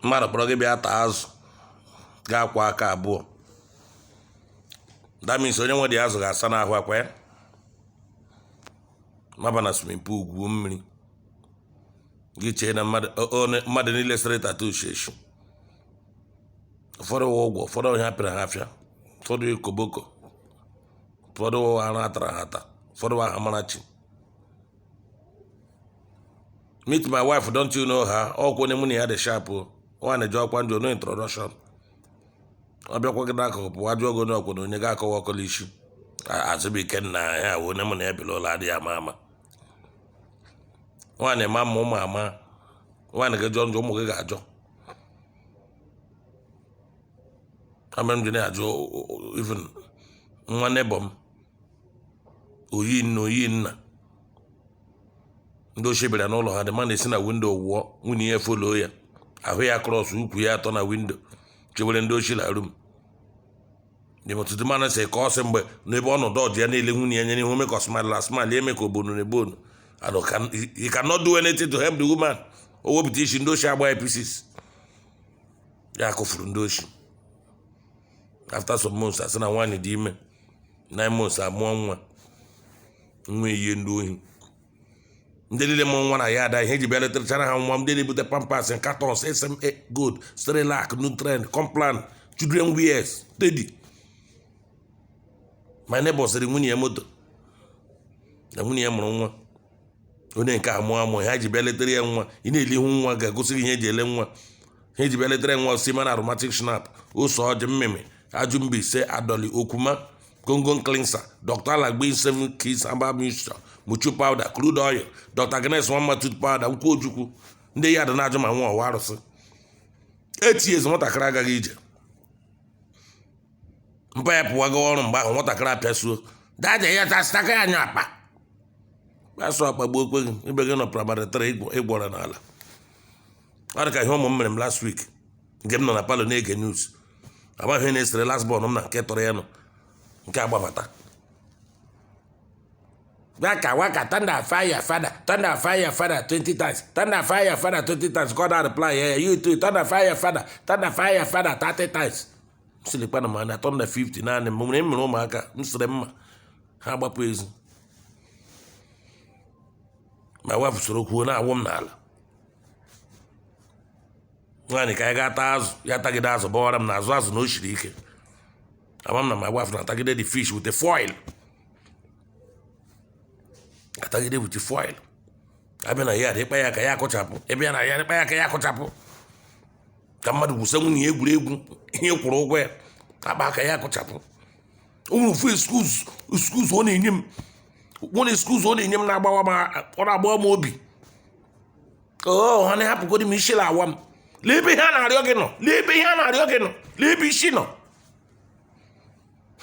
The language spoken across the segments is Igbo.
mmadụ kpọrọ gị bịa taa azụ gị akwọ aka abụọ that means onye nwe dị azụ ga-asa n'ahụ ọkwa ya maba na swimming pool gwuo mmiri gị chee na mmadụ o- o- mmadụ niile sere tatu iche iche ụfọdụ wụ ugwo ụfọdụ wụ ihe apịrị ha apịa ụfọdụ wụ koboko ụfọdụ wụ arụ atara ha ata ụfọdụ wụ aha amarachi meet my wife don't you know her ọkwa onye mụ na ya dị sharp o nwa na-eji ọkwa ndị no introduction ọ bịakwa gị n'akụkụ pụwa jụọ gị onye ọkwa na onye ga-akọwa ọkọla isi azụbụike nna ya wụ onye mụ na ya biri ụlọ adịghị ama ama nwaanyị ma mma ụmụ ama nwaanyị gị jọọ njọ ụmụ gị ga-ajọ ihe mere m ji na-ajụ even nwa neighbor m oyi nna oyi nna ndị oshi bịara n'ụlọ ha the man si na windo wụọ nwunye ya follow ya ahụ ya cross ukwu ya atọ na windo chewere ndị oshi na room ọtụtụ mmadụ si ka ọ sị mgbe n'ebe ọnọdụ ọdụ ya niile nwunye ya nyere ihe ome ka ọ smile asmile eme ka obonu na ebe onu and he cannot do anything to help the woman o wepụta isi ndị oshi agbaa ya pieces ya kụfuru ndị oshi after some months asị na nwaanyị dị ime nine months amụọ nwa nwa eyie ndị ohi ndị niile mụrụ nwa na yard a ihe eji bịa letachara ha nwa ndị na-ebute pampers cartons sma gold cerelac nutrend complan children wears teddy my neighbor zụụrụ nwunye ya moto na nwunye ya mụrụ nwa onye nke amụ amụ ha ji bịa letara ya nwa ị na-ele ihu nwa ga-egosi gị ihe eji ele nwa ha ji bịa letara ya nwa seaman aromatic schnapps ose ọjị mmịmị ajụ mbaise adọli okwuma gongon cleanser dr aladdin seven keys herbal mixture moju powder crude oil dr agnes nwamma tooth powder nkwụ ojukwu ndị yard na-ajụ ma nwa ọ wụ arụsị eight years nwatakịrị agaghị ije mpa ya pụwago ọrụ mgbe ahụ nwatakịrị apịasuo dada ya tasịtaka ya anya akpa asụ akpagbuokwa gị ibe gị nọ primary three ị gwọrọ n'ala ọ dị ka ihe ụmụ m mere m last week mgbe m nọ na palọ na-ege news amaghị ihe na-esere last born m na nke tọrọ ya nọ nke agbabata waka waka thunder fire fada thunder fire fada 20 times thunder fire fada 20 times ka ọ na reply ya you too thunder fire fada thunder fire fada 30 times sị lekwanụ m na thunder 50 naanị m nwere mere ụmụaka m sịrị mma ha gbapụ ezi my wife soro kwuo na-awụ m n'ala nwaanyị ka anyị gaa taa azụ ya tagide azụ gwara m na azụ azụ na o siri ike ama m na my wife na-atagide the fish with the foil atagide wit foil abịa na ya ị kpa ya aka ya akụchapụ ebe ya na ya ị kpa ya aka ya akụchapụ ka mmadụ gwusa nwunye ya egwuregwu ihe ị kwụrụ ụgwọ ya a kpa aka ya akụchapụ o nwere ofu excuse ọ na-enye m one excuse ọ na-enye m na-agbawa m ọ na-agbawa m obi oo oh, honey hapụgodi m isi na-awa m lee ebe ihe a na-arịọ gị nọ lee ebe ihe a na-arịọ gị nọ lee ebe isi nọ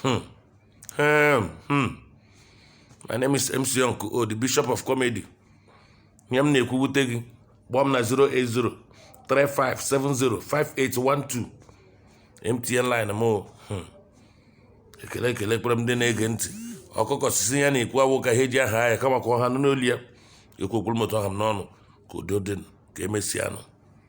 Hmm. Um, hmm. My name is MC Uncle O, the Bishop of Comedy. Ihe m na-ekwu wute gị kpọọ m na 080 3570 5812 MTN line m o. Hmm. ekele ekele ekpere m ndị na-ege ntị ọkụkọ sị sị ya na-ekwu awụ ka ihe ji ya haa ya kama ka ọha nụ n'olu ya ekwuo kwuru m otu ọ ha m n'ọnụ ka udo dị ka emesịa nụ